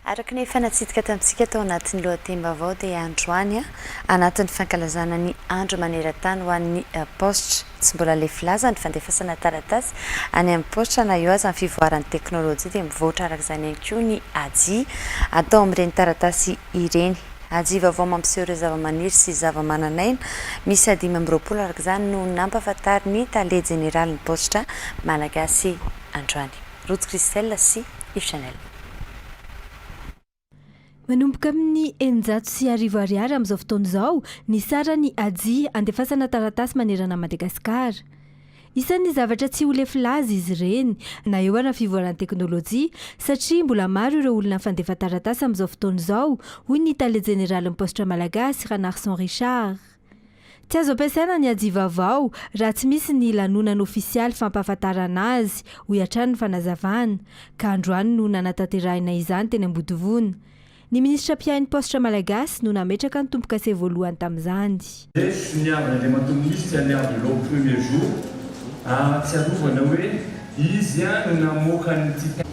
Araka ny efa natsidika tamintsika tao anatin'ny lohatenim-baovao dia androany, anatin'ny fankalazana ny andro maneran-tany ho an'ny paositra, tsy mbola lefy laza ny fandefasana taratasy any amin'ny paositra na eo aza ny fivoaran'ny teknolojia dia mivoatra araka izany ihany koa ny aji atao amin'ireny taratasy ireny. Aji vaovao mampiseho ireo zavamaniry sy zavamananaina miisa dimy amby roapolo araka izany no nampahafantarin'ny tale jeneralin'ny paositra malagasy androany. Ruth Christelle sy Yves Chanel. Manomboka amin'ny eninjato sy arivo ariary amin'izao fotoana izao ny saran'i Haji andefasana taratasy manerana an'i Madagasikara. Isan'ny zavatra tsy ho lefy laza izy ireny na eo ara ny fivoaran'ny teknolojia satria mbola maro ireo olona mifandefa taratasy amin'izao fotoana izao, hoy ny tale jeneralin'ny paositra malagasy, Ranarison Richard. Tsy azo ampiasaina ny ajivavao raha tsy misy ny lanonana ofisialy fampahafantarana azy, hoy hatrany ny fanazavana, ka androany no nanatanterahina izany teny Ambodivona. Ny minisitra mpiahy ny paositra malagasy no nametraka ny tombo-kase voalohany tamin'izany. Lefitry ny haavon'Andriamatoa Minisitra ny haavon'ireo premier jour, ahatsiarovana hoe Izy no namoaka ny Titanic.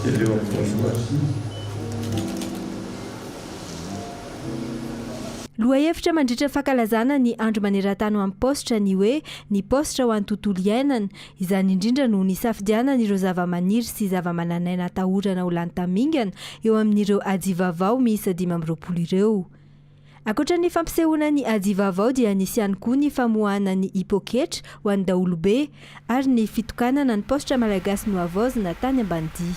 Jereo amin'ny voalohany. Lohahevitra mandritra ny fankalazana ny Andro maneran-tany ho an'ny paositra ny hoe Ny paositra ho an'ny tontolo iainana. Izany indrindra no nisafidianana ireo zavamaniry sy zavamananaina atahorana ho lany tamingana eo amin'ireo Ajivavao miisa dimy amby roapolo ireo. Ankoatra ny fampisehoana ny aji vaovao dia nisy ihany koa ny famoahana ny i Poketra ho an'ny daholobe ary ny fitokanana ny paositra Malagasy nohavaozina tany Ambanidia.